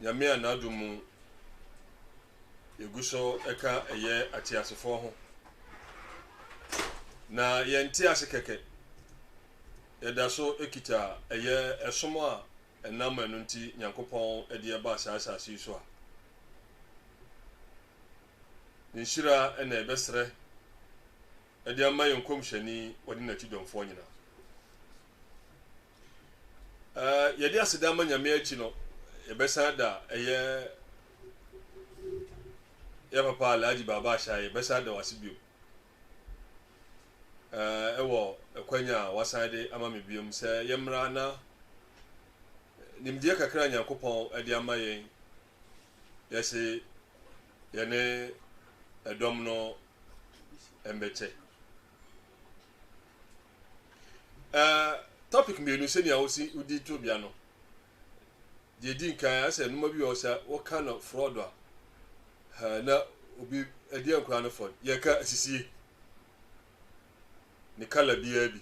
Nyame a N'adom mu yɛgu so ka ɛyɛ ateasefoɔ ho. Na yɛnte ase kɛkɛ. Yɛda so kita ɛyɛ ɛsom a ɛnam ɛno nti Nyankopɔn de ɛbaa saa asase yi so a. Nhyira na ɛbɛsrɛ ɛde ama yɛn nkɔmhyɛni wɔde n'akyidɔmfoɔ nyinaa. Ɛɛ, yɛde aseda ma Nyame akyi no, yɛbɛsan da ɛyɛ yɛ papa Alhaji Baba Ahyɛ yɛbɛsan da wase biom. Ɛɛ, ɛwɔ ɛkwanya a wasan de ama me biom sɛ yɛmmra na nimdeɛ kakra Nyankopɔn ɛde ama yɛn yɛse yɛne ɛdɔm no ɛmbɛkyɛ. Ɛɛ topic mmienu sɛnea wosi wodi tobea no. Deɛ edi nkan asɛ nnoma bi wɔ sɛ woka no fraud a ɛɛ na obi ɛdeɛ nkora no fɔn yɛka asisie ne kala biara bi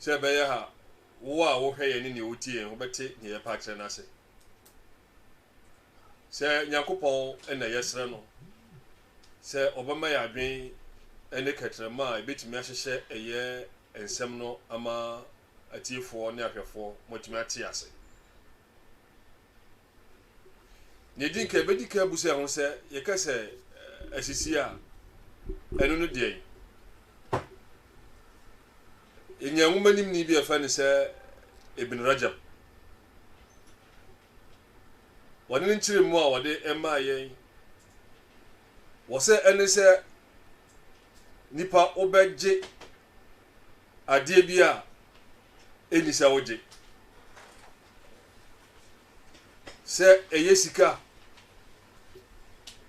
sɛ ɛbɛyɛ ha wo a wohwɛ yɛn ne nea wotie yɛn wobɛte nea yɛpa akyerɛ no ase. Sɛ Nyankopɔn na yɛsrɛ no sɛ ɔbɛma yɛn adwen ne kɛtrɛma a ebetumi ahyehyɛ ɛyɛ nsɛm no ama atiefoɔ ne ahwɛfoɔ ma wɔatumi ate ase. Nea edi nka ebedi ka abu sɛ ho sɛ yɛka sɛ asisi a, ɛno ne deɛn? Yɛnya nwomanimni bi a yɛfrɛ no sɛ Ibn Rajab. Bɔne no nkyerɛmu a wɔde maa yɛn wɔ sɛ ɛne sɛ nipa wobɛgye adeɛ bi a ɛni sɛ wogye. Sɛ ɛyɛ sika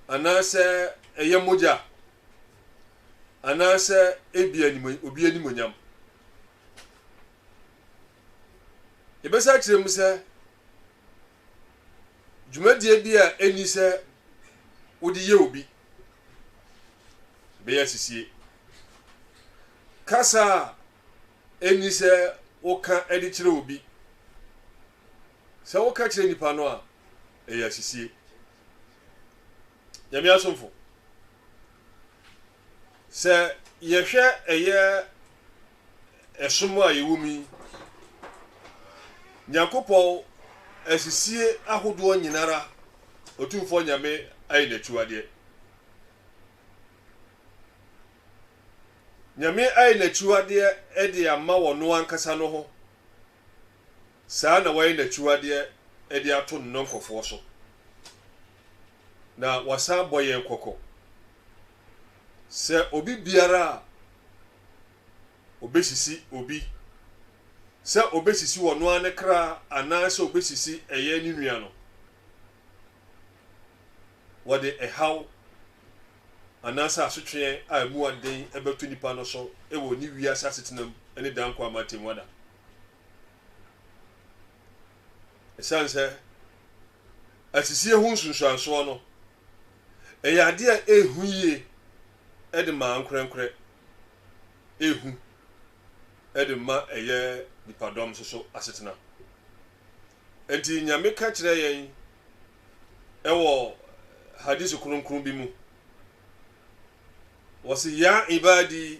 anaasɛ ɛyɛ mogya anaasɛ ebi anim obi animonyam. Yɛbɛsa akyerɛ mu sɛ, dwumadie bi a ɛnni sɛ wode yɛ obi bɛyɛ asisie. Kasa a ɛnni sɛ woka de kyerɛ obi. Sɛ woka kyerɛ nipa no a, ɛyɛ asisie. Nyame asomfo, sɛ yɛhwɛ ɛyɛ ɛsom a yɛwɔ mu yi, Nyankopɔn asisie ahodoɔ nyinara Otumfoɔ Nyame ayɛ n'akyiwadeɛ. Nyame ayɛ n'akyiwadeɛ de ama ɔno ankasa no ho. Saa na wayɛ n'akyiwadeɛ de ato ne nɔnkɔfoɔ so, na wasan abɔ yɛn kɔkɔ sɛ obi biara a ɔbɛsisi obi, sɛ ɔbɛsisi ɔno ara ne kra anaa sɛ ɔbɛsisi ɛyɛ ne nua no, wɔde ɛhaw anaasɛ asotweɛ a ɛmu aden bɛto nipa no so wɔ ne wiase asetenam ne daa nkwa mu atɛmmuada. Ɛsiane sɛ asisie ho nsunsuansoɔ no, ɛyɛ adeɛ a ɛhu yie de ma ankorɛnkorɛ, ɛhu de ma ɛyɛ nipadɔm nso so asetena. Enti Nyame ka kyerɛ yɛn ɛwɔ hadisi kronkron bi mu, wɔsi ya ibadi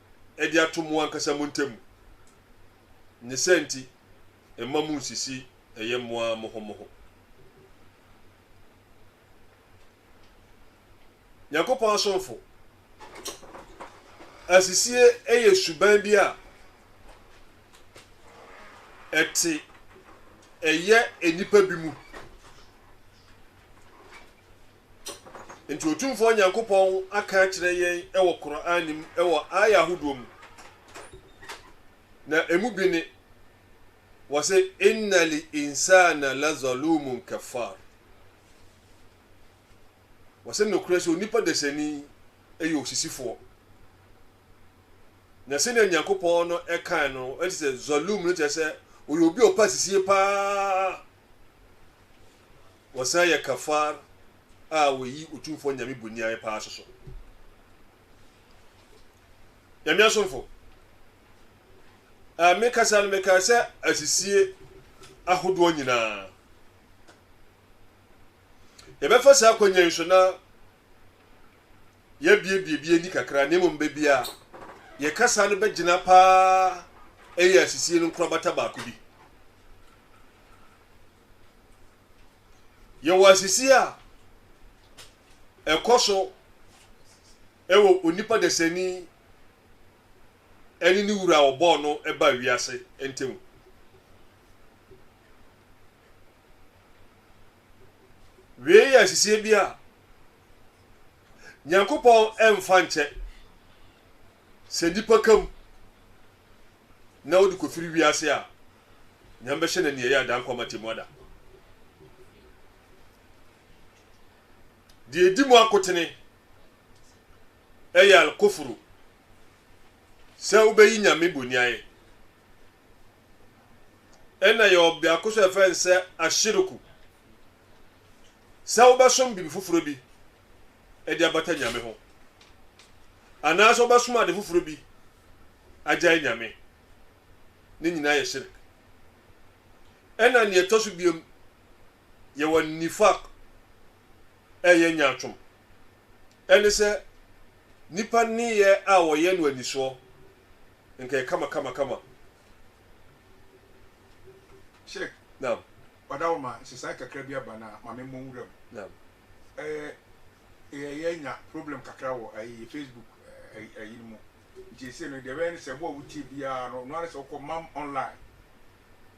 de ato mo ankasa mo ntam. Ne saa nti, mma munnsisi ɛyɛ mo ara mo ho mo ho. Nyankopɔn asomfo, asisie yɛ suban bi a ɛte ɛyɛ nnipa bi mu. Enti Otumfoɔ Nyankopɔn aka akyerɛ yɛn wɔ Qur'aan mu wɔ aayah ahodoɔ mu, na ɛmu bi ne, Wɔse, Inna l-insaana lazaluumun kafaar. Wɔse, Nokorɛ sɛ onipa dasani yɛ osisifoɔ. Na sɛdeɛ Nyankopɔn no kae no, ɛne sɛ, Zaluum no kyerɛ sɛ, ɔyɛ obi a ɔpɛ asisie paa. Wɔsan yɛ kafar a wɔyi Otumfoɔ Nyame boniayɛ paa soso. Nyame asomfo, a me kasa no mekae sɛ asisie ahodoɔ nyinaa. Yɛbɛfa saa akwannya yi so na yɛabiebie bi ani kakra na mmom baabi a yɛn kasa no bɛgyina paa yɛ asisie no nkorabata baako bi. Yɛwɔ asisie a ɛkɔ so wɔ onipa dasani ne ne wura a ɔbɔɔ no ba wiase ntam. Wei yɛ ahyehyɛɛ bi a Nyankopɔn ɛmfa nkyɛ, sɛ nnipa ka mu na wode kɔfiri wiase a, Nyame bɛhyɛ no aniɛyɛ ada nkwa ma temu ada. Deɛ ɛdi mu akotene ɛyɛ alkofuru, sɛ wobɛyi Nyame boniaɛ. Ɛna yɛwɔ biako nso a yɛfrɛ no sɛ ahyiriku. Sɛ wobɛsom biribi foforɔ bi de abata Nyame ho, anaasɛ wobɛsom ade foforɔ bi agyae Nyame, ne nyinaa yɛ shirik. Ɛna nea ɛtɔ so biom, yɛwɔ nifaq, ɛyɛ nyaatwom. Ɛne sɛ, nnipa nneyɛɛ a wɔyɛ no anisoɔ, nka ɛyɛ kama kama kama. Sheikh, Naam. Ɔdawoma, nsesaeɛ kakra bi aba na ma me mmɔ nwura mu. Naam. Ɛɛ, yɛ, yɛanya problem kakra wɔ ayi, Facebook ayi, ayi no mu. Nti seesei no, deɛ ɛbɛyɛ ne sɛ, wo a wotie biara no, noa ne sɛ wokɔ Mam Online.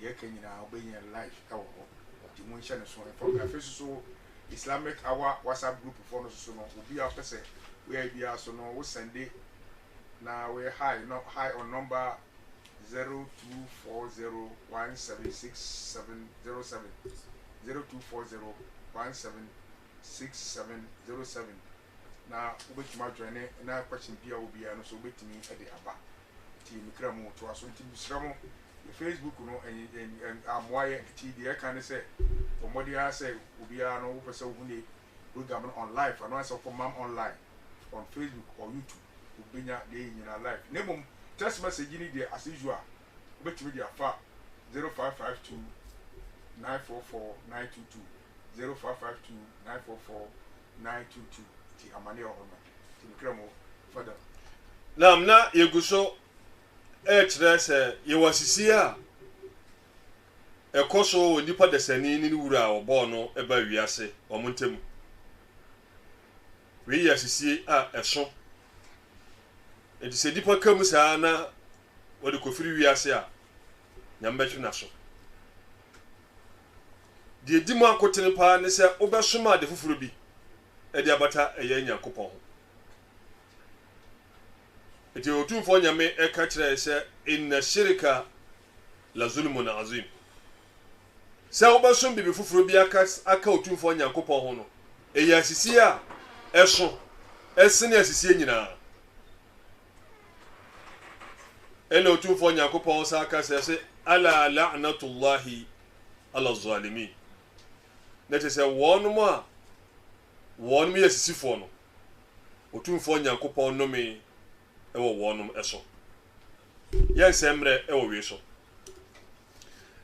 deɛ ɛka nyinaa wobɛnya no live ɛwɔ hɔ nti mo nhyɛ no so mfa mu afei soso Islamic Hour WhatsApp group foɔ no soso no obi a pɛ sɛ woyɛ biara so no wo sɛnde na woyɛ hi no hi on number 0240176707 0240176707 na wobɛtumi adwane ne na question biaa wɔ biaa no nso wobɛtumi de aba nti me kra mu toa so nti mesrɛ mo yɛ Facebook no ammoa yɛ nti deɛ ɛka ne sɛ bɔ mmɔden ara sɛ obiara no wopɛ sɛ wohu ne program no on live ano asɛ wokɔ mam online on Facebook or YouTube wobɛnya deɛ yɛ nyinaa live na mmom text message ne deɛ as usual wobɛtumi de afa 0552 944 922 zero five five two nine four four nine two two ti amane wɔ hɔ no ti mekra mu fada. Nam na yɛgu so rekyerɛ sɛ yɛwɔ asisie a ɛkɔ so wɔ nipa dasani ne ne wura a wɔbɔɔ no ba wiase wɔn ntam. Wei yɛ asisie a ɛso. Enti sɛ nipa ka mu saa na wɔde kɔfiri wiase a, Nyame bɛtwe n'aso. Deɛ ɛdi mu akotene pa ara ne sɛ wobɛsom ade foforɔ bi de abata ɛyɛ Nyankopɔn ho. Enti Otumfoɔ Nyame ɛka kyerɛ yɛ sɛ, Inna shirika la zulmun azim. Sɛ wobɛsom biribi foforɔ bi aka aka Otumfoɔ Nyankopɔn ho no, ɛyɛ asisie a ɛso ɛsene asisie nyinaa. ɛna otumfoɔ nyankopɔn saa ka sɛ se ala la'natullahi ala zalimin na kyerɛ sɛ wɔnom a wɔnom yɛ sisifoɔ no otumfoɔ nyankopɔn nome ɛwɔ wɔnom ɛso yɛ nsɛmmerɛ ɛwɔ wei so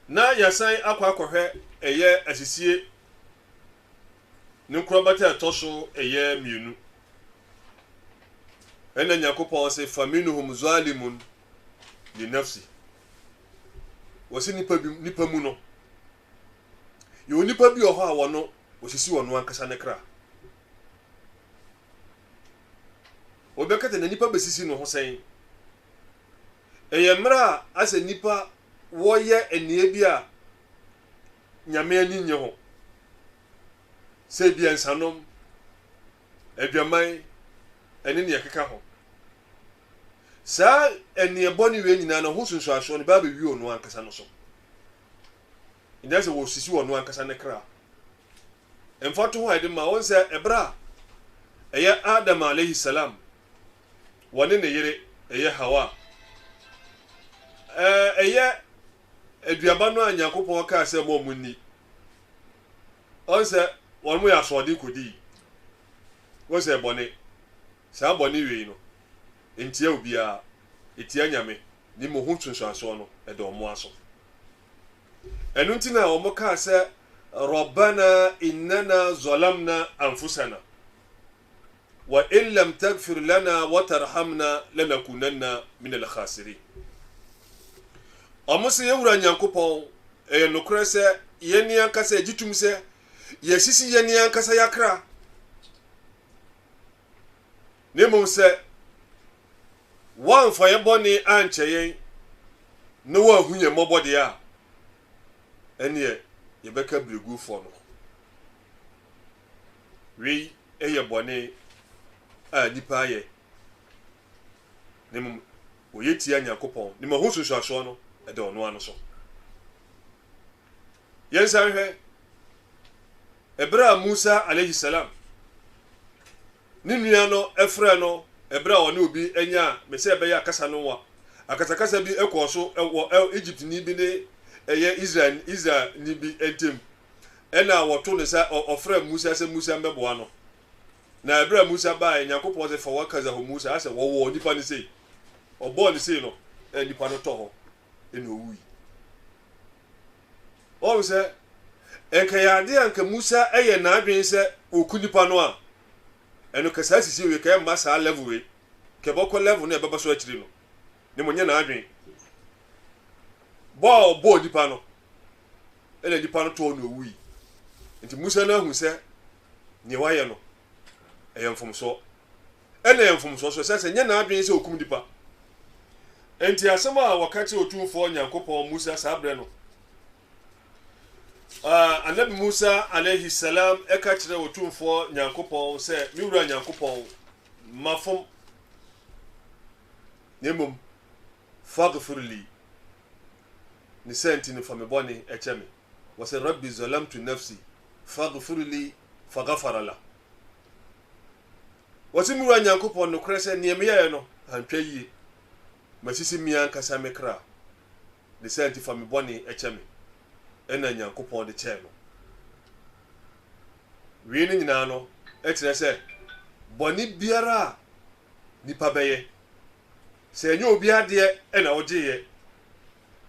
na yɛsan akɔ akɔhwɛ ɛyɛ asisie ne nkorabata a ɛtɔ so ɛyɛ mmienu. Ɛna Nyankopɔn se, Faminhum zalimun li nafsi. Wɔse nnipa bi, nnipa mu no, yɛwɔ nnipa bi wɔ hɔ a wɔno, wɔsisi wɔno ankasa ne kra. Wɔbɛkata na nnipa bɛsisi no ho sɛn? Ɛyɛ mmerɛ a asɛ nnipa wɔyɛ ɛneɛ bi a Nyame ani nnye ho sɛ ebia nsanom, adwaman, ne nea ɛkeka ho. Saa ɛnneɛ bɔne wei nyinaa no, ɛho nsunsuansoɔ no bɛba abɛwie ɔno ankasa no so. Ɛnyɛ sɛ wɔsisi ɔno ankasa ne kra. Mfatoho a yɛde ma wɔn sɛ ɛberɛ a ɛyɛ Adam alayhi salam, wɔne ne yere ɛyɛ Hawa, ɛyɛ aduaba no a Nyankopɔn kaa sɛ mma wɔn nni. Wɔn sɛ wɔn yɛ asoɔden kɔdii. Wɔn sɛ bɔne, saa bɔne wei no, ntia obiara, ɛtia Nyame, ne mmom ho nsunsuansoɔ no ɛda wɔn ara so. Ɛno nti na wɔn kaa sɛ, Rabbana innana zalamna anfusana, wa in lam tagfir lana wa tarhamna lanakunanna min alkhasirin. Wɔn se, Yɛn Wura Nyankopɔn, ɛyɛ nokorɛ sɛ yɛn ankasa yɛgye tom sɛ yɛasisi yɛn ankasa yɛakra, na mmom sɛ woamfa yɛn bɔne ankyɛ yɛn na woanhu yɛn mmɔbɔ deɛ a, ɛneɛ yɛbɛka berɛguofoɔ no ho. Wei yɛ bɔne a nnipa ayɛ, na mmom wɔyɛ tia Nyankopɔn. Nim ɛho nsunsuansoɔ no, ɛda ɔno ara no so. Yɛnsan hwɛ ɛberɛ a Musa alayhi salam ne nua no frɛ no ɛberɛ a ɔne obi nyaa me sɛ ɛbɛyɛ akasa no wa akasakasa bi kɔɔ so wɔ Egyptni bi ne ɛyɛ Israel Israelni bi ntam. Ɛnna wɔto no sɛ ɔ, ɔfrɛɛ Musa sɛ Musa mbɛboa no. Na ɛberɛ a Musa baeɛ, Nyankopɔn se, Fa w'akadza hɔ Musa, asɛ wɔwɔɔ nipa no sei. Ɔbɔɔ no sei no, ɛnna nipa no tɔ hɔ, ɛnna owui. Ɔhu sɛ, ɛnka ɛyɛ adeɛ a anka Musa ɛyɛ n'adwene sɛ ɔku nipa no a, ɛno kɛ saa sisi wei, kɛ ɛmma saa level wei, kɛ ɛbɔkɔ level no a ɛbɛba so akyiri no. Ne mmom nyɛ n'adwene bɔ a ɔbɔɔ nipa no. ɛna nipa no tɔɔ na owui nti musa no ahu sɛ nea wayɛ no ɛyɛ mfomsoɔ ɛna ɛyɛ mfomsoɔ so ɛsɛ sɛ nyɛ n'adwene sɛ okum nipa nti asɛm a wɔka kyerɛ otumfoɔ nyankopɔn musa saa berɛ no uh, anabi musa alayhi salam ɛka kyerɛ otumfoɔ nyankopɔn sɛ me wura nyankopɔn mafom na mmom fagfirli ne saa nti no fa me bɔne kyɛ me. Wɔse, Rabbi zalamtu nafsi faghfir li faghafara lah. Wɔse, Me Wura Nyankopɔn, nokorɛ sɛ neɛ meyɛeɛ no antwa yie, masisi me ankasa me kra, ne saa nti fa me bɔne kyɛ me. Ɛnna Nyankopɔn de kyɛɛ no. Wei no nyinaa no kyerɛ sɛ bɔne biara a nnipa bɛyɛ. Sɛ ɛnyɛ obiara deɛ na wogyeeɛ.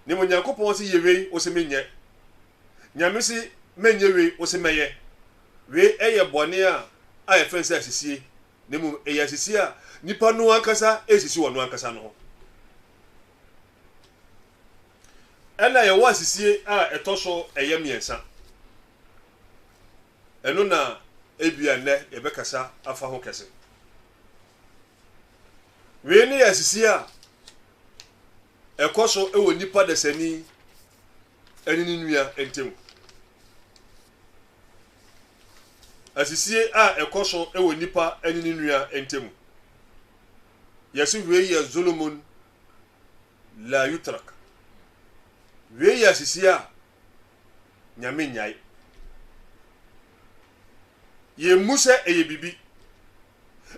Nea Onyankopɔn se yɛ wei wose menyɛ. Nyame se menyɛ wei wose mɛyɛ. Wei yɛ bɔne a a yɛfrɛ no sɛ asisie na mmom ɛyɛ asisie a nnipa no ankasa resisi wɔn ankasa no ho. Ɛna yɛwɔ asisie a ɛtɔ so ɛyɛ mmiɛnsa. Ɛno na ebia nnɛ yɛbɛkasa afa ho kɛse. Wei ne asisi a ɛkɔ so wɔ nnipa dasani ne ne nua ntam. Asisi a ɛkɔ so wɔ nnipa ne ne nua ntam. Yɛse wei yɛ zulumun la yutrak. Wei yɛ asisi a Nyame nnyae. Yɛmmu sɛ ɛyɛ biribi.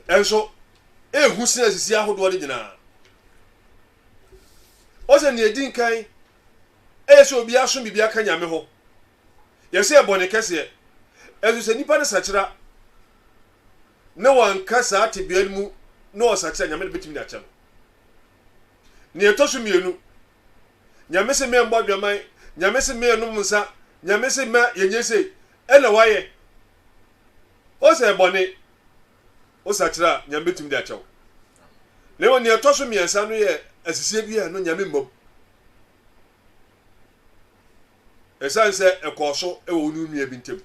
Ɛnso, ɛhu sene asisi ahodoɔ no nyinaa. Ɔsɛ nea ɛdi nkan, ɛyɛ sɛ obi aso biribi aka Nyame ho. Yɛsɛ ɛbɔ ne kɛseɛ. Ɛnso sɛ nipa no sakyera na wanka saa tebea no mu na ɔsakyera, Nyame de bɛtumi de akyɛ no. Nea ɛtɔ so mmienu, Nyame se me mbɔ adwaman, Nyame se me nnom nsa, Nyame se mma yɛnyɛ sei, ɛna wayɛ. Ose ɛyɛ bɔne, wosakyera a Nyame bɛtumi de akyɛ wo. Na mmom nea ɛtɔ so mmiɛnsa no yɛ asisie bi a ɛno Nyame mma mu. Ɛsiane sɛ ɛkɔɔ so wɔ wo ne wo nua bi ntam.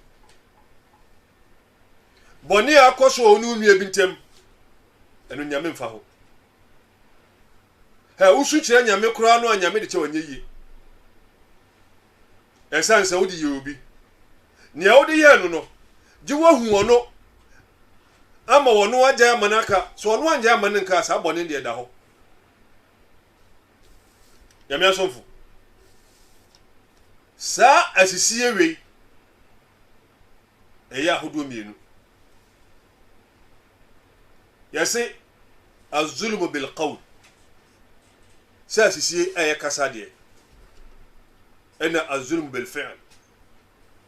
Bɔne a akɔ so wɔ wo ne wo nua bi ntam, ɛno Nyame mfa ho. Hɛ, wo su kyerɛ Nyame koraa no a Nyame de kyɛ wo ɛnyɛ yie. Ɛsiane sɛ wode yɛɛ obi. Nea wode yɛɛ no no, gye woahu ɔno ama ɔno agyae ama no aka. Sɛ ɔno angyae amma no nka a, saa bɔne no deɛ ɛda hɔ. Nyame asomfo, saa asisie wei ɛyɛ ahodoɔ mmienu. Yɛse Al-zulmu bil-qawl, sɛ asisie a ɛyɛ kasa deɛ, ɛna al-zulmu bil-fi'l,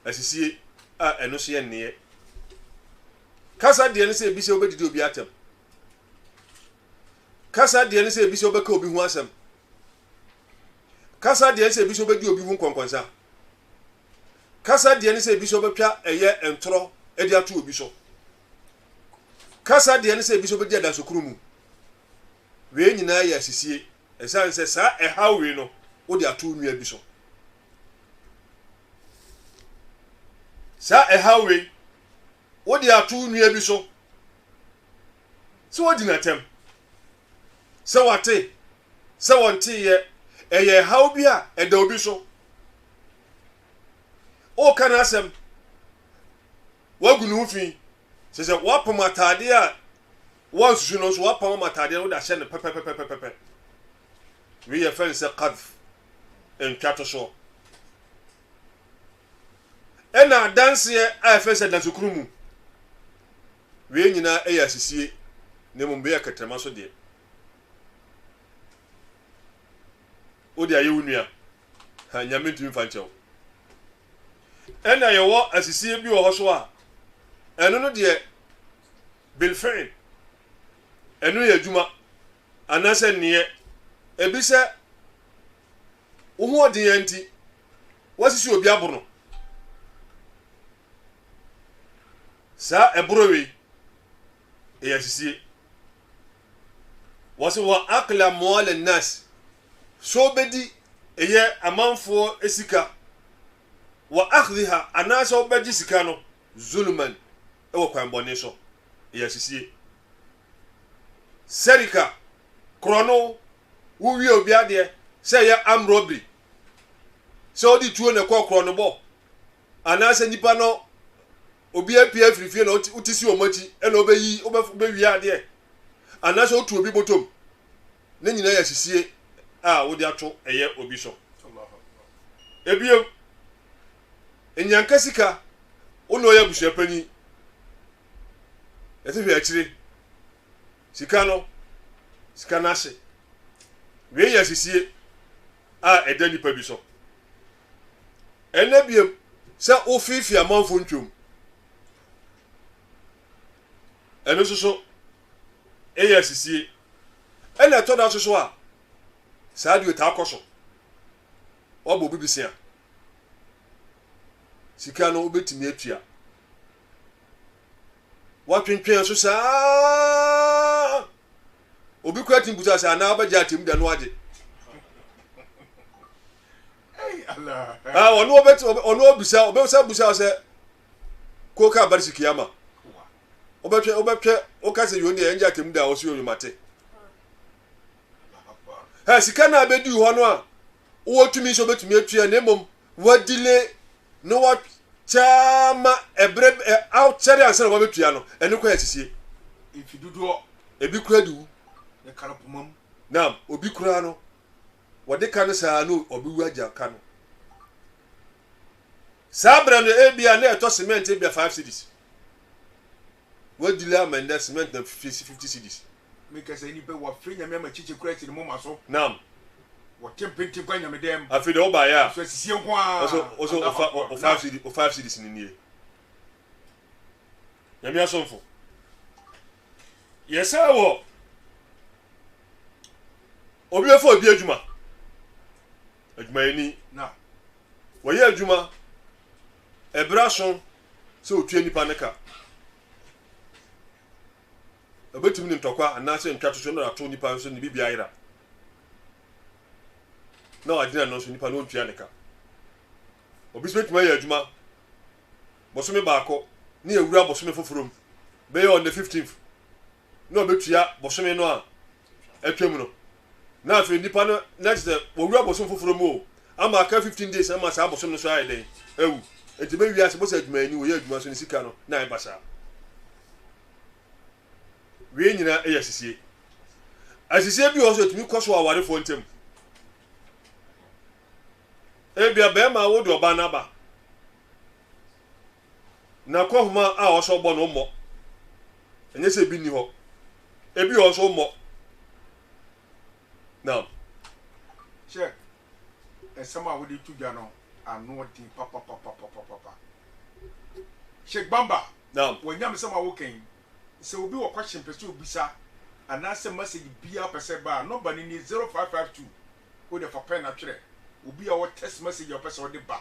asisie a ɛno nso yɛ nneɛ. Kasa deɛ ne sɛ ebi sɛ wobɛdidi obi atɛm. Kasa deɛ ne sɛ ebi sɛ wobɛka obi ho asɛm. Kasa deɛ ne sɛ ebi sɛ wobɛdi obi ho nkɔnkɔnsa. Kasa deɛ ne sɛ ebi sɛ wobɛtwa ɛyɛ ntorɔ de ato obi so. kasa deɛ ne sɛ ebi nso bɛdi adanso koro mu. Wei nyinaa yɛ asisie, ɛsiane sɛ saa ɛhaw wei no wode ato wo nua bi so. Saa ɛhaw wei wode ato wo nua bi so sɛ wagyina atɛm, sɛ wate, sɛ wɔnteeɛ, ɛyɛ ɛhaw bi a ɛda obi so. Woka n'asɛm. woagu ne ho fi. Kyerɛ sɛ, woapam ataadeɛ a woansusu no nso, woapam ama ataadeɛ no, wode ahyɛ no pɛpɛpɛpɛpɛpɛ. Wei yɛfrɛ no sɛ qadhf, ntwatosoɔ. Ɛna adanseɛ a yɛfrɛ no sɛ adansekuno mu. Wei nyinaa ɛyɛ asisie, na mmom wei yɛ kɛtrɛma so deɛ. Wode ayɛ wo nua, ha, Nyame ntumi mfa nkyɛ wo. Ɛna yɛwɔ asisie bi wɔ hɔ so a, ɛno no deɛ bilfi'il, ɛno yɛ adwuma anaasɛ nneɛ. Ebi sɛ wo hoɔden ara nti woasisi obi abono. Saa ɛboro wei, ɛyɛ asisie. Wɔse wa akle amwale nas, sɛ wobɛdi ɛyɛ amanfoɔ sika, wa akhdiha anaasɛ wobɛgye sika no zuluman wɔ kwan bɔne so, ɛyɛ asisie. Sɛrika, korɔno, wo wie obi adeɛ sɛ ɛyɛ arm robbery, sɛ wode tuo na ɛkɔ korɔnobɔ anaasɛ nipa no obi apue afiri fie na wote si wɔn akyi na wobɛyi wobɛwie adeɛ anaasɛ wotu obi bɔtɔm ne nyinaa yɛ asisie a wode ato ɛyɛ obi so ebiem nyanka sika wo na ɔyɛ abusua panyin ɛte hwɛ akyire sika no sika no ase wei yɛ asisie a ɛda nipa bi so Ɛnnɛ biom, sɛ wofiifii amanfo ntwom, ɛno nso so yɛ asisie. Ɛna ɛtɔ da nso so a, saa deɛ ɔtaa kɔ so. Wabɔ obi bisia. Sika no wobɛtumi atua. Watwentwɛn so saa. obi kura ti mbusa sɛ anaa ɔbɛgye atem da no agye ɔno ɔbɛti ɔno ɔbisa ɔbɛsa busa sɛ kóka abarisi kiyama ɔbɛtwɛ ɔbɛtwɛ ɔka sɛ yɔn deɛ ɛngye atem da a ɔsi ɔyɔn mate ɛ sika naa bɛdi hɔ no a ɔwɔ tumi nso ɔbɛtumi atua ne mmom wa delay na wa kyaa ma ɛbrɛ ɛ aw kyɛre ansa na wa bɛtua no ɛno kɔ yɛ sisie. Mfi dodoɔ. Ebi kura di wu. Ne ka no poma mu. Naam, obi koraa no wɔde ka no saa no ɔbɛwu agya ka no. Saa berɛ no ebia na ɛtɔ cement ebia five cities. Wei dile ama nnɛ cement na fifie si fifty cedis. Me kasa yi nipɛ wa fre nyame ama kyikyi kura si ne moma so. Naam. Wɔ te mpe nti kɔ anyame dɛm. Afei deɛ wo ba yɛ a. So asisie nko aa. Oso oso wo fa wo five cedi wo five cedis no nie. Nyame asomfo. Yɛ saa wɔ. Obi bɛ fa obi adwuma. Adwumayɛni. Na. Wɔ yɛ adwuma. Ɛbra so. sɛ otua nnipa no ka. Obetumi ne ntɔkwa anaasɛ ntwatoso no na ato nnipa nso ne biribiara yera na wagyina no nso nnipa no ontua ne ka. Obi nso betumi ayɛ adwuma bosome baako ne awura bosome foforo mu bɛyɛ on the 15th na obetua bosome no a atwam no. Na afei nipa no na kyerɛ sɛ wɔwura bosom foforɔ mu o, ama aka fifteen days ama saa bosom no so ayɛ dɛn awu. Nti bɛ wiase bɔ sɛ adwumayɛni wɔyɛ adwuma so ne sika no na ɛba saa. Wei nyinaa yɛ asisie. Asisie bi wɔ so etumi kɔ so awarefoɔ ntam. Ebia bɛrima wo de ɔbaa n'aba. Na kɔ nhoma a ɔwɔ sɛ ɔbɔ no mmɔ. Ɛnyɛ sɛ ebi nni hɔ. Ebi wɔ hɔ nso mmɔ. Naam. Hyɛ nsɛm a wode to dwa no ano den papapapapapa. Sheik Bamba, Naam. wɔn nyamesɛm a woka yi, sɛ obi wɔ question pɛ sɛ obisa anaasɛ message biara pɛ sɛ ɛba a, number no nie, zero five five two. Wode fa pen atwerɛ. Obi a ɔwɔ text message a ɔpɛ sɛ ɔde ba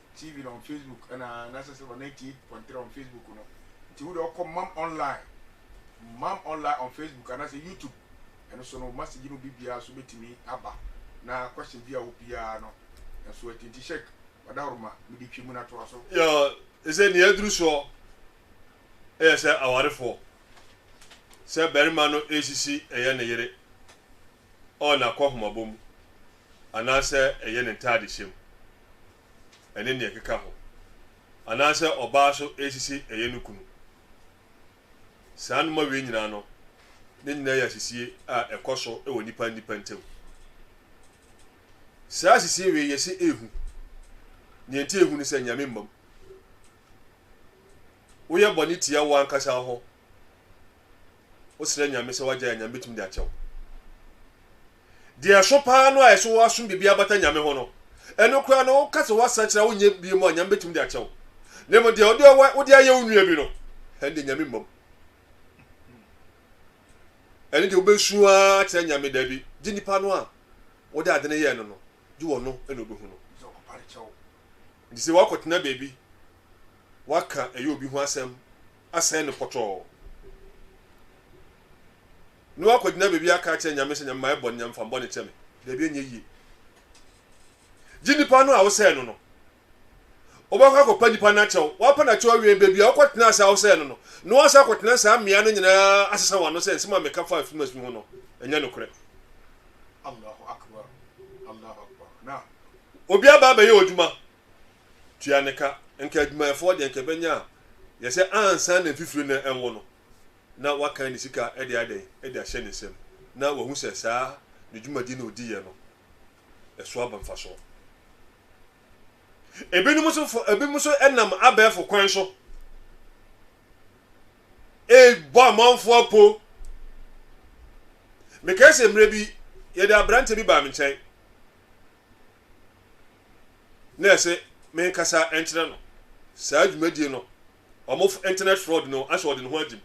TV na on Facebook na na sɛ sɛ ɔna tie pɔntere on Facebook no nti wo de ɔkɔ mam online mam online on Facebook ana sɛ YouTube ɛno so no message no bi biara so betumi aba na question bi a wo biara no nso ɛti nti shek ɔdahoroma mede twi mu na toa so. Yɛ ɛsɛ nea aduru soɔ ɛyɛ sɛ awarefoɔ sɛ barima no ɛresisi ɛyɛ ne yere ɔɔ na kɔhomabɔ mu anaasɛ ɛyɛ ne ntaade hyɛ mu ɛne nea ɛkeka ho anaasɛ ɔbaa so ɛresisi ɛyɛ no kunu. Saa noma wei nyinaa no ne nyinaa yɛ asisie a ɛkɔ so wɔ nnipa nnipa ntam. Saa asisie wei yɛse ɛhu, nea nti ɛhu ne sɛ Nyame mmam. Woyɛ bɔne tia wo ankasa wo ho Wosrɛ Nyame sɛ wagyae a Nyame bɛtumi de akyɛ wo. Deɛ ɛso paa no a ɛso woasom biribi abata Nyame ho no, ɛno koraa no woka sɛ woasakyera wonyɛ bie mu a Nyame bɛtumi de akyɛ wo. Na mmom deɛ wode ɔwa wode ayɛ wo nua bi no, ɛnde Nyame mmam. Ɛne deɛ wobɛsu ara kyerɛ Nyame daabi, gye nipa no a wode ade no yɛɛ no no, gye wɔno ɛna obɛhu no. Enti sɛ woakɔtena baabi, woaka ɛyɛ obi ho asɛm asɛe no pɔtɔɔ, ne woakɔgyina baabi aka akyerɛ Nyame sɛ, Nyame mayɛ bɔne, Nyame fa me bɔne kyɛ me. Daabi, ɛnyɛ yie. Gye nipa no a wosɛe no no. Wobɛkɔ akɔpa nipa no akyɛw. Woapa no akyɛw awie, baabi a wokɔtena ase a wosɛe no no, na woasan akɔtena saa mmea no nyinaa asesa wɔn ano sɛ nsɛm a meka faa Fimas fi ho no, ɛnyɛ nokorɛ. Obi aba abɛyɛ odwuma, tua ne ka. Nka adwumayɛfoɔ deɛ nka ɛbɛnya a, yɛ sɛ ansa na mfifire no ɛnwo no, na wakan ne sika de ayɛ dɛn? De ahyɛ ne nsam, na wahu sɛ saa ne dwumadie no a ɔdiiɛ no, ɛso aba mfasoɔ. Ebinom nso fo, ebinom nso nam abɛɛfo kwan so ɛrebɔ amanfoɔ apo. Mekae sɛ mmerɛ bi, yɛde aberanteɛ bi baa me nkyɛn. na ɛsɛ menkasa nkyerɛ no saa dwumadie no, wɔn internet fraud no ahyɛ ɔde ne ho agye mu.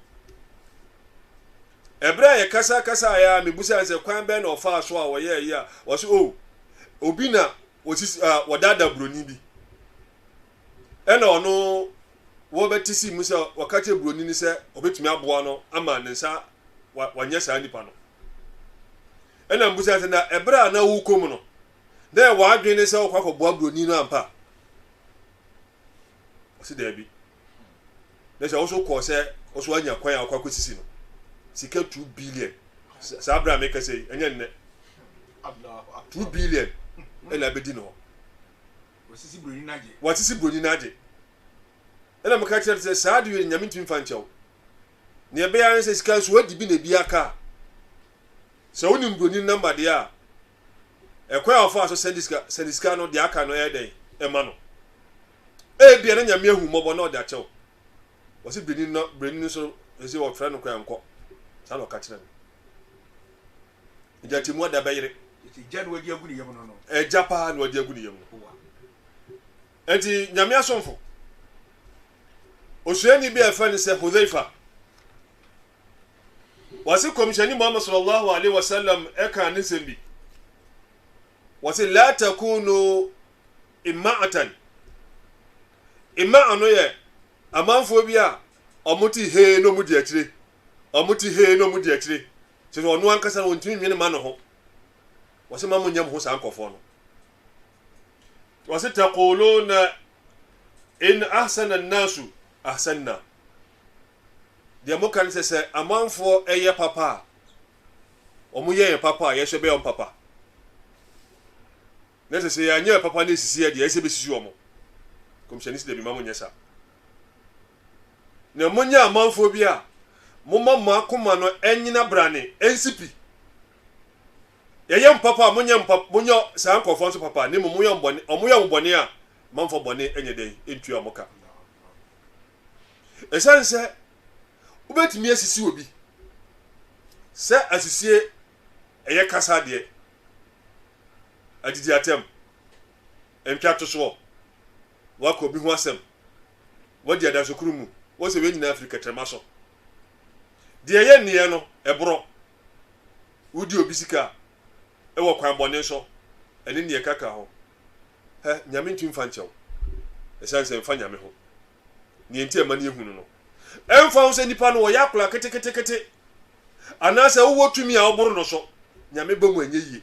Ɛberɛ a yɛkasa kasa yɛ a mebusa sɛ kwan bɛn na ɔfaa so a wɔyɛɛ yi a wɔse o oh, obi na wɔsisi a wɔdaadaa buroni bi ɛna ɔno wɔbɛte si mu sɛ wɔka kyerɛ buroni no sɛ ɔbɛtumi aboa no ama ne nsa wanyɛ saa nipa no Ɛna mibisa sɛ, Na bere a na worekɔ mu no, na ɛyɛ w'adwene ne sɛ wokɔ akɔboa buroni no ampa? Ɔse daabi. Na sɛ wo so kɔɔ sɛ wo so anya kwan a wokɔ akɔsisi no sika two billion saa bere a mekasa yi, ɛnyɛ nnɛ. Two billion ɛna abɛdi no hɔ. Wasisi buroni no agye. Wasisi buroni no agye. Ɛna meka kyerɛ no sɛ saa de wei Nyame ntumi mfa nkyɛ wo. Nea ɛbɛyɛ ara ne sɛ sika nso woadi bi na ebi aka a, sɛ wonim buroni no namba deɛ a, ɛkwan a wɔfaa so sɛnde sika sɛnde sika no deɛ aka no ɛyɛ dɛn ɛma no. Ebia na Nyame ahu mmɔbɔ na ɔde akyɛ wo. Wɔsi buroni no buroni no nso ɛsɛ wɔfrɛ no kwan nkɔ. Saa na ɔka kyerɛ no. Agya te mu ada bɛyere. Agya na wadi agu ne yam no no. Agya paa na wadi agu ne yam no. Enti Nyame asomfo Osuani bi a yɛfrɛ no sɛ Hudhaifa, wɔse Kɔmhyɛni Muhammad sallallahu alaihi wasallam ɛkaa ne nsɛm bi. Wɔse la takunu ima'atan. Ima'a no yɛ amanfoɔ bi a wɔn ti hee na wɔn di akyire. Wɔn ti hee na wɔn di akyire. Kyerɛ sɛ ɔno ankasa no wɔntumi nwene ma ne ho. Wɔse ma mo nyɛ mo ho saa nkɔfoɔ no. Ɔse taquluna in ahsana an-nasu ahsanna. Deɛ moka ne sɛ sɛ amanfoɔ ɛyɛ papa a wɔn yɛ yɛn papa a yɛsɛ bɛyɛ wɔn papa. Na sɛ sɛ yɛanyɛ papa ne esisi yɛ deɛ ɛsɛ bɛsisi wɔn. Kɔmhyɛni sɛ dɛbi ma mo nyɛ saa. Na monyɛ amanfoɔ bi a moma mo akoma no ɛnyina brane ɛnsipi. Yɛyɛ mo papa a, monyɛ mo papa, monyɛ saa nkurɔfoɔ nso papa, na mmom moyɛ wɔn bɔne, wɔn yɛ mo bɔne a, mamfa bɔne nyɛ dɛn, ntua wɔn ka. Ɛsiane sɛ wobɛtumi asisi obi sɛ asisie ɛyɛ kasa adeɛ, adidi atɛm, ntwa tosoɔ, waka obi ho asɛm, wadi adansokunu mu, wɔsɛ wei nyinaa firi kɛtrɛma so. Deɛ ɛyɛ nneɛ no, ɛborɔ. Wodi obi sika wɔ kwan bɔne so, ɛne nneɛ ɛka ka ho. Hɛ, Nyame ntumi mfa nkyɛ wo, ɛsiane sɛ ɛmfa Nyame ho. Nea enti a ɛma no yɛ hu no no, ɛmfa ho sɛ nnipa no wɔyɛ akora keteketekete, anaasɛ wowɔ tumi a woboro no so, Nyame ba mu anyɛ yie.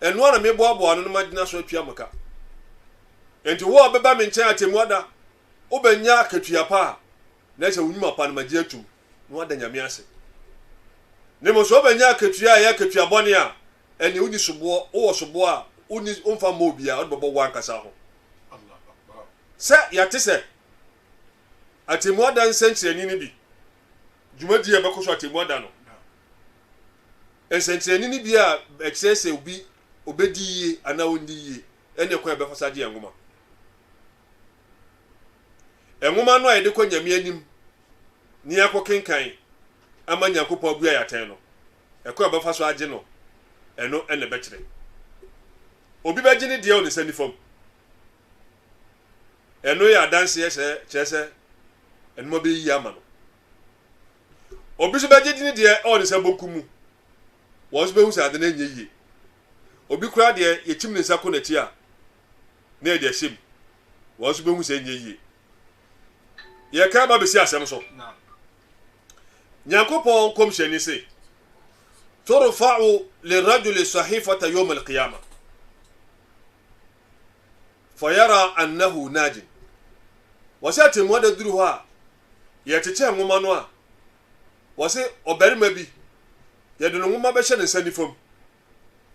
Ɛno ara na meboaboa ano na magyina so atua mo ka. Enti wo a wobɛba me nkyɛn atemmu da, wobɛnya akatua pa a na ɛsɛ wo nnwuma pa no magye atom na woada Nyame ase. Na mmom sɛ wobɛnya akatua a ɛyɛ akatua bɔne a, ɛnneɛ wonni soboɔ, wowɔ soboɔ a wonni, womfa mmɔ obiara, wode bɛbɔ woankasa ho. Sɛ yɛate sɛ atemmu ada nsɛnkyerɛnne no bi, dwumadie a ɛbɛkɔ so atemmu ada no, Nsɛnkyerɛnne no bi a ɛkyerɛ sɛ obi obedi yiye anaa ɔrenni yiye ne kwan a yɛbɛfa so agye yɛn nwoma. Nwoma no a yɛde kɔ Nyame anim ne yɛakɔ kenkan ama Nyankopɔn abua yɛ atɛn no, ɛkwan a yɛbɛfa so agye no, ɛno na ɛbɛkyerɛ. Obi bɛgye ne deɛ wɔ ne nsa nifa mu. Ɛno yɛ adanseɛ sɛ kyerɛ sɛ ɛnoma bɛyɛ yiye ama no. Obi nso bɛgye di ne deɛ ɛwɔ ne nsa bonkum mu. Wɔn nso bɛhu sɛ ade no nyɛ yie. Obi koraa deɛ yɛkyim ne nsa kɔ n'akyi a, na yɛde ahyɛ mu. Wɔn nso bɛhu sɛ ɛnyɛ yie. Yɛka ba bɛsi asɛm so. Nyankopɔn nkɔmhyɛni se, Turfa'u lirajuli sahifata yawm al-qiyama fayara annahu najin. Wɔsɛ atɛmmuada duru hɔ a, yɛrekyekyɛ nwoma no a, wɔse ɔbarima bi, yɛde no nwoma bɛhyɛ ne nsa nifa mu.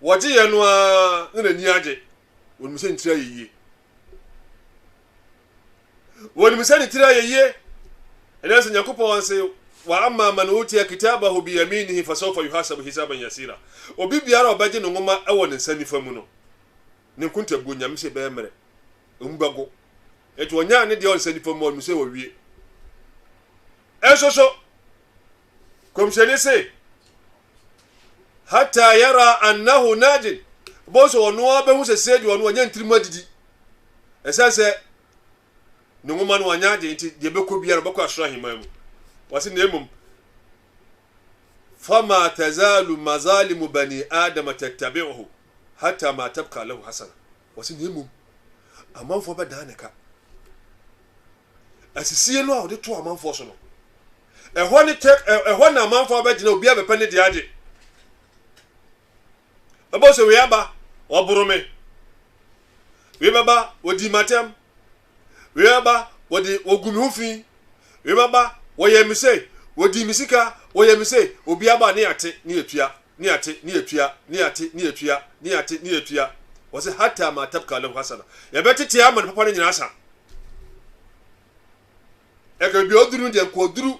Wɔgyeeɛ no ara na n'ani agye. Wɔnim sɛ ne tiri ayɛ yie. Wɔnim sɛ ne tiri ayɛ yie. Ɛnna sɛ Nyankopɔn se, wa amma man utiya kitabahu biyaminihi fasawfa yuhasabu hisaban yasira. Obi biara a ɔbɛgye ne nwoma wɔ ne nsa nifa mu no, ne nkontabuo, Nyame se, bɛyɛ mmerɛ. Emu bɛgo. Enti wɔnyaa ne deɛ ɔnsa nifa mu ɔnim sɛ wɔwie. Ɛnso so, kɔmhyɛni se, hata yara annahu najin, bɔhu sɛ ɔno ara bɛhu sɛ sei deɛ ɔno ɔnyɛ ntirim adidi. Ɛsiane sɛ ne nwoma no ɔnyɛ agye nti deɛ bɛkɔ biara ɔbɛkɔ asoro ahemman mu. Wɔse na mmom fama tazalu mazalimu bani adama tattabi'uhu hata ma tabka lahu hasana. Wɔse na mmom amanfoɔ bɛdan ne ka. Asisie no a wɔde to amanfoɔ so no, ɛhɔ ne tɛ, ɛhɔ na amanfoɔ abɛgyina, obiara bɛpɛ ne deɛ agye. Ɛbɔ sɛ wei aba, ɔboro me. Wei bɛba, ɔdii m'atɛm. Wema ba, wɔde wogu me ho fi. Wema ba, wɔyɛ me sei, wodi me sika, wɔyɛ me sei. Obi aba a ne yɛate, ne yɛtua, ne yɛate, ne yɛtua, ne yɛate, ne yɛtua, ne yɛate, ne yɛtua. Wɔse hatta ma tabka lahu hasana. Yɛbɛtete ama ne papa no nyinaa asa. Ɛka baabi a ɔduru no deɛ nka ɔduru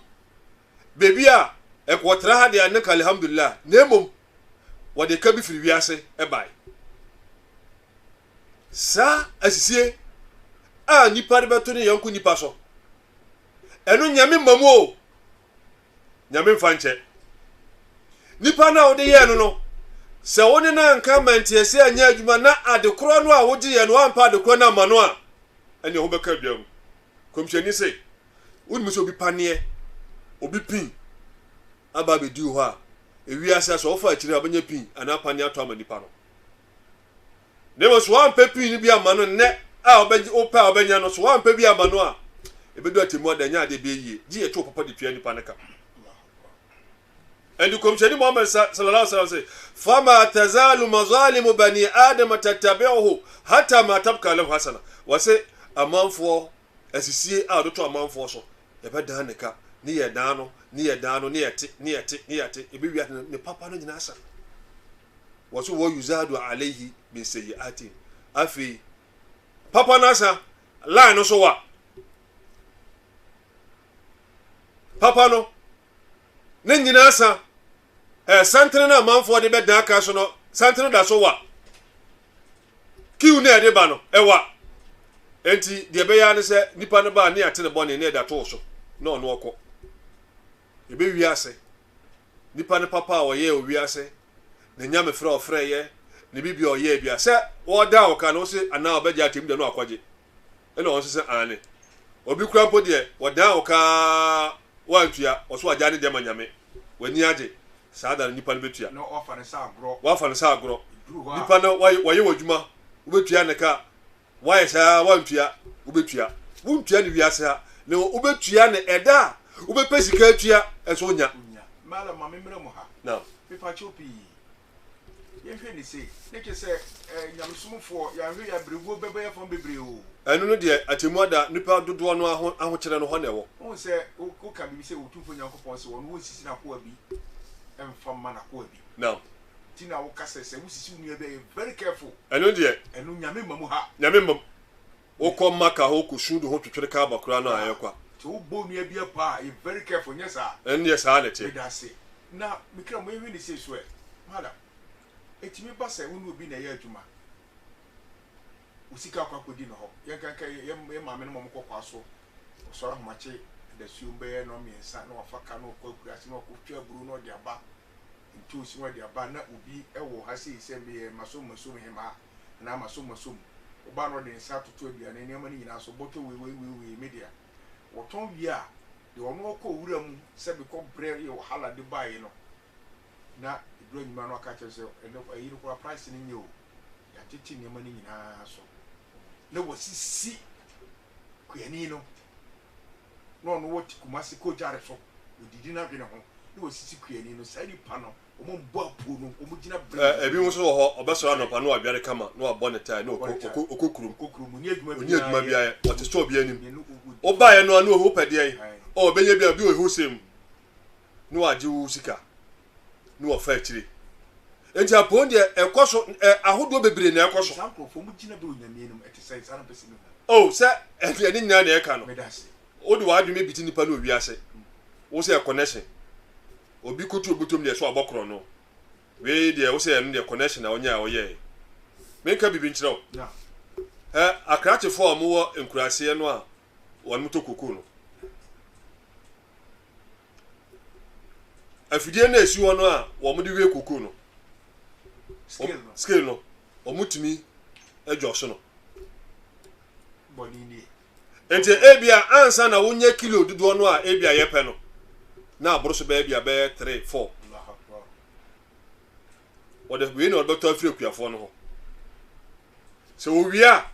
baabi a ɛka ɔtra ha deɛ a ne ka alhamdulillah na mmom wɔde ka bi firi wiase bae. saa asisie a nipa de bɛto ne yɔnko nipa so ɛno nyame mma mu o nyame mfa nkyɛ nipa no a wode yɛɛ no no sɛ wo ne no anka manteɛse anyɛ adwuma na adekorɔ no a wogye yɛ no ampa adekorɔ no ama no a ɛneɛ ho bɛka adwa mu kɔmhyɛni se wonim sɛ obi paneɛ obi pin aba abɛduu hɔ a ewiase a sɛ wofa akyiri a wobɛnya pin anaa paneɛ ato ama nipa no na mmom so wampɛ pii no bi ama no nnɛ a ɔbɛgye wopɛ a ɔbɛnya no so wampɛ bi ama no a ebedu atemmu ada nya ade bi yie gye yɛtwe papa de tua nipa no ka ɛnde kɔmhyɛni muhammad sallallahu alaihi wasallam sɛ fama tazalu mazalimu bani adam tatabi'uhu hatta ma tabka lahu hasana wɔse amanfoɔ Asisie a ɔde to amanfoɔ so, Yɛbɛdan ne ka, ne Yɛdan no, ne Yɛdan no, ne Yɛte, ne Yɛte, ne Yɛte, Yɛbɛwie ade no, ne papa no nyinaa sa. Wɔ so wɔ yuzadu alaihi min seiatin, Afei, papa no asa, line no so wa, papa no, ne nyinaa sa, Ɛɛ, santene no a amanfoɔ de bɛdan kan so no, santene da so wa. Kiw no a ɛde ba no, ɛwa. Enti deɛ ɛbɛyɛ ara ne sɛ nipa no ba a ne yɛate ne bɔne ne ɛda too so na ɔno ɔkɔ. Ɛbɛwie ase. Nipa no papa a ɔyɛɛ ɔwie ase, ne nyamefrɛ a ɔfrɛeɛ, ne biribi a ɔyɛɛ bia, sɛ wɔredan wo kan no, wo se anaa ɔbɛgyae atemmuda no akɔgye. Ɛna wɔn nso sɛ, Aane. Obi koraa mpo deɛ, wɔdan wo kaa woantua, ɔse wagyae ne deɛ ama Nyame. W'ani agye. Saa da no nipa no bɛtua. Na wɔafa no sɛ agorɔ. Wɔafa no sɛ agorɔ. Ɛduru hɔ a. Nipa no wayɛ w'adwuma, wobɛtua ne ka. Woayɛ saa ara woantua, wobɛtua. Wontua no wiase ha, na wobɛtua no ɛda a wobɛpɛ sika atua nso wonya. Wonya. Mɛla ma me mmra mu ha. Naam. Mepa kyɛw pii. Yɛnhwɛ ne sei, ne kyɛ sɛ eh, nyamesomfoɔ, yɛanhwɛ yɛ abrɛguo bɛbɔ yɛ fam bebree o. Ɛno no deɛ atemmu ada nnipa dodoɔ no aho ahokyerɛ no hɔ na ɛwɔ. Wohu sɛ wo woka biribi sɛ Otumfoɔ Nyankopɔn se wɔn wonsisi n'akoa bi mfa mma n'akoa bi. Nam. Nti na woka sɛ sɛ wosisi wo nua bi a yɛ very careful. Ɛno deɛ. Ɛno Nyame mma mu ha. Nyame mma mu. Wokɔ Makkah hɔ kɔ suudu ho twetwere Kaaba koraa no a ɛyɛ kwa. Sɛ wo bɔ onua bi abaa a yɛ very careful nyɛ saa. Ɛnneɛ saa na ɛteɛ. Medase. Na me kra mo yɛ hwɛ ne sei so ɛ. Madam, ɛtumi ba sɛ wo ne obi na ɛyɛ adwuma, wo sika akɔ akɔdi ne hɔ, yɛnka nka yɛ yɛ maame no ma ɔmo kɔ kwa so, ɔsɔre ahomakye adasuom bɛyɛ nnɔn mmiɛnsa na wafa ka na ɔkɔ akuraase na ɔkɔ twa aburo na ɔde aba, ntoosi na ɔde aba na obi ɛwɔ ha sei sɛ meyɛ masom masom hemaa. anaa m'asommasɔ mu. Ɔbaa no ɔde ne nsa toto aduane nneɛma no nyinaa so, bɔtɔ wei, wei, wei, wei, me dea. Wɔtɔn wie a, deɛ ɔno ɔkɔɔ wura mu sɛ bekɔ brɛ yɛ wahala de baeɛ no, na ɛduru anwuma no aka akyerɛ no sɛ, ɛnɛ ayi no koraa price no nyɛ o, yɛatete nneɛma no nyinaa so na wɔasisi kuani no na ɔno wɔ te Kumasi kɔ Gyare so, ɔdidi n'adwene ho na wasisi kuani no, saa nipa no wɔn mbɔ apuo no, wɔn gyina bere nyinaa. Ɛbinom nso wɔ hɔ, ɔbɛsɔre anɔpa na wadware kama na wabɔ ne tae na ɔkɔ ɔkɔ kurom. Ɔkɔ kurom, ɔnni adwuma biara yɛ. Ɔnni adwuma biara yɛ, ɔte store bi anim. Wobaeɛ no a na ɔhwɛ wopɛ deɛn? Ɔɔ bɛnya bi a, obi wɔ hɔ who same na wagye wo sika. ne wɔfa akyire nti apɔn deɛ ɛkɔ so ɛ ahodoɔ bebree na ɛkɔ so. saa nkurɔfoɔ mu gyina bɛ onyame anim ɛte sɛ saa na mpɛ sɛ mehu. o oh, sɛ ɛdeɛ ne nyinaa na ɛka no wode w'adwene bi te nipa ne owi ase wo sɛ connection obi kotu obutom deɛ so abɔ korɔ no wei deɛ wo sɛ ɛno deɛ connection na ɔnyɛ a ɔyɛɛ menka biribi nkyerɛ wo ɛ akrakyefoɔ a wɔwɔ nkuraseɛ no a wɔn motɔ koko no afidie no a ɛsi hɔ no a wɔde wɛ kokoo no scale no wɔtumi adjust no nti ebia ansa na wonyɛ kilo dodoɔ no a ebia yɛpɛ no na aboro so bɛyɛ bia bɛyɛ three four wɔde wei na wɔde bɛtɔ afiri akuafoɔ no hɔ sɛ wɔwie a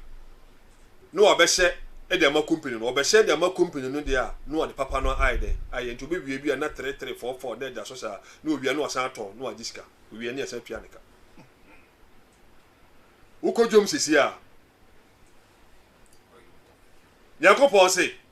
na wɔbɛhyɛ de ama company no wɔbɛhyɛ de ama company no deɛ a na wɔde papa no ayɛ dɛ ayɛ nti wɔbɛwie bi a na tere tere fɔɔ fɔɔ na ɛda so saa na wɔwie na wɔsan atɔn na wɔagye sika wɔwie na yɛsan tua ne ka wokɔ dwom sisi a nyankopɔn se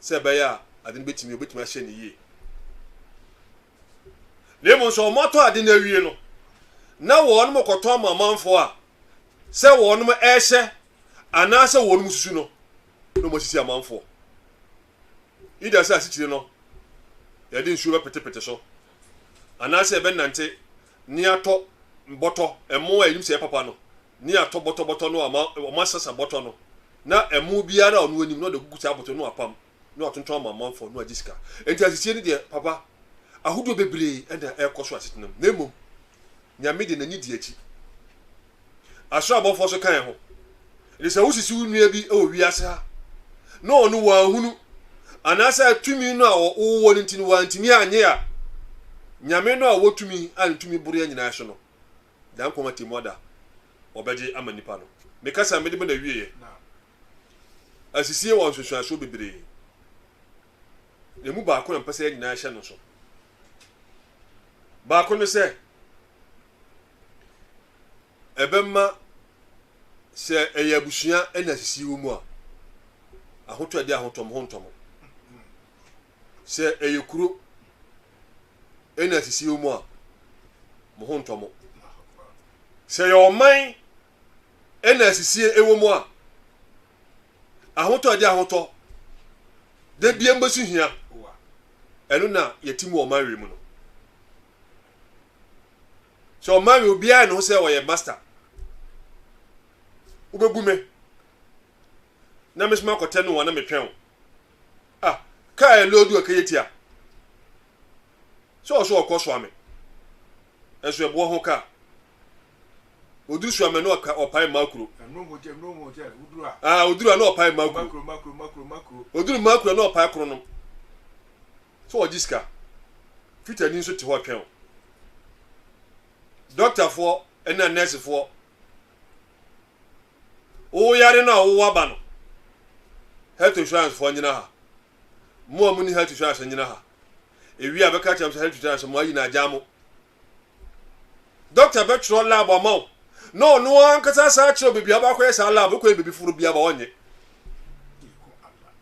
sɛ ɛbɛyɛ a ade no betumi obetumi ahyɛ no yie. Na mmom sɛ wɔatɔ ade no awie no, na wɔn kɔtɔn ma amanfoɔ a sɛ wɔn ɛrehyɛ anaasɛ wɔn susu no na wɔasisi amanfoɔ. Ida sɛ asikyire no yɛde nsuo bɛpetepete so anaasɛ yɛbɛnante ne atɔ bɔtɔ ɛmo a yɛnim sɛ ɛyɛ papa no ne atɔ bɔtɔbɔtɔ no a ɔma ɔmasesa bɔtɔ no na ɛmo biara a ɔno anim na ɔde agugu saa bɔtɔ no apam na watontɔn ama amanfoɔ no agye sika enti asesie no deɛ papa ahodoɔ bebree ɛna ɛrekɔ so asetena mu na mmom nyame de n'ani di akyi asoro abɔfoɔ so kan ho ɛde sɛ wosisi wo nua bi wɔ wiase ha na ɔno wɔahunu anaasɛ tumi no a wɔwɔ no nti no wɔantumi anyɛ a nyame no a wɔtumi a ne tumi boroɛ nyinaa so no Nyankopɔn atemmuada a ɔbɛgye ama nnipa no. Me kasa a mede ma no awieɛ asisie wɔ nsunsuansoɔ bebree. Emu baako na mpɛ sɛ yɛn nyinaa hyɛ no so. Baako ne sɛ, ɛbɛma sɛ ɛyɛ abusua ɛna asisie wɔ mu a, ahotɔ ɛde ahotɔmhontɔm. Sɛ ɛyɛ kuro ɛna asisi wɔ mu a, mo ho ntɔ mo. Sɛ ɛyɛ ɔman ɛna asisie ɛwɔ mu a, ahotɔ ɛde ahotɔ da bia mbɛso hia ɛno na yɛte mu ɔman wei mu no. Sɛ ɔman wei obiara ne ho sɛ ɔyɛ master wobɛbu me na mesoma akɔtɛ no wa na metwɛn wo Ah, kaa ɛ lɔɔdu ɛ kɛyɛ tia. Sɛ ɔsɔ ɔkɔ soame, ɛnso ɛboɔ ho kaa. Oduru soame na ɔka ɔpae mmaa kuro. Ah, oduru a na ɔpae mmaa kuro. Oduru mmaa kuro na ɔpae koro nom. Sɛ ɔgye sika, fitani nso te hɔ twɛn o. Dɔktafoɔ ɛna nɛɛsefoɔ Wowɔ yare no a wowɔ aba no, health insurance foɔ nyina ha. Mo a moni health insurance nyina ha. Ewie a bɛka kyerɛ mo sɛ health insurance mo ayi na agyaa mo. Doctor bɛtwerɛ lab ama wo na ɔno ankasa saa kyerɛ baabi a wobɛakɔyɛ saa lab wokɔyɛ baabi foforo biara ba wɔnyɛ.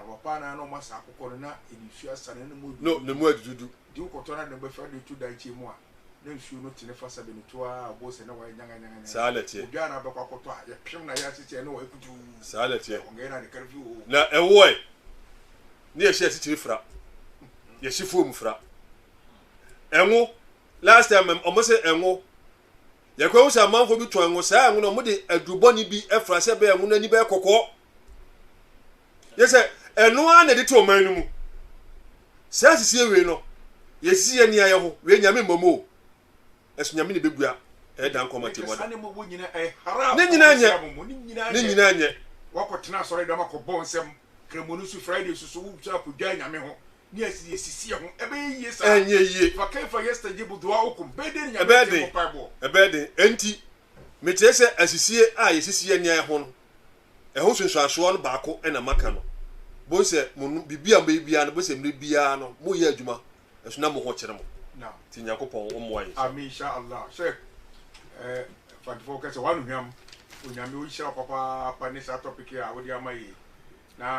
Amapa na na ɔma saa akokɔ no na ɛde nsuo asa no na mu adudu. No, na mu adududu. Nti wokɔtɔ no ade no bɛfa de to dankyeɛ mu a, na nsuo no tene fa sɛbe no to ara a wobɛhu sɛ na wayɛ nyanganyanganya. Saa na ɛteɛ. Odwan na abɛkɔ akɔtɔ a, yɛpem no a yɛate sɛ na wayɛ kutuu. Saa na ɛteɛ. Ɔngɛɛ na ne kar fi oo. Na ɛwoɔe, na yɛhyɛ asikyire fra, yɛhye foam fra. Ɛnwo, last time wɔn se ɛnwo, Yɛkɔhu sɛ amanfoɔ bi tɔn ngo. Saa ngo no, wɔde aduru bɔne bi fra sɛ ɛbɛyɛ ngo no ani bɛyɛ kɔkɔɔ. Yɛ sɛ ɛno ara na ɛde to ɔman no mu. Saa sisie wei no, yɛsisi yɛ nea yɛ ho. Wei Nyame mmom o. Ɛso Nyame na ɛbɛbua ɛyɛ dan kɔma Tirimɔden. Ne nyinaa nyɛ. Ne nyinaa nyɛ. Woakɔtena asɔredɔm akɔbɔ nsɛm, Kramoni so, Friday so so, wosɔre akɔdware Nyame ho, Ɛnyɛ yie. Ɛbɛyɛ den. Ɛbɛyɛ den. Enti, mekyerɛ sɛ asisie a yɛsisi yɛn nneɛma ho no, ɛho nsunsuansoɔ no baako na maka no. Bohu sɛ mo no, biribi a mobɛyɛ biara no, bohu sɛ mmerɛ biara no, moreyɛ adwuma, ɛso na mo ho kyere mo. Nti Nyankopɔn ɔmmoa yɛn. Amen insha Allah. Sɛ eh, Fantefo kɛ sɛ w'anohwam, Onyame ɔnhyira wo papaapa ne saa topic yi a wode ama yɛ yi. Na.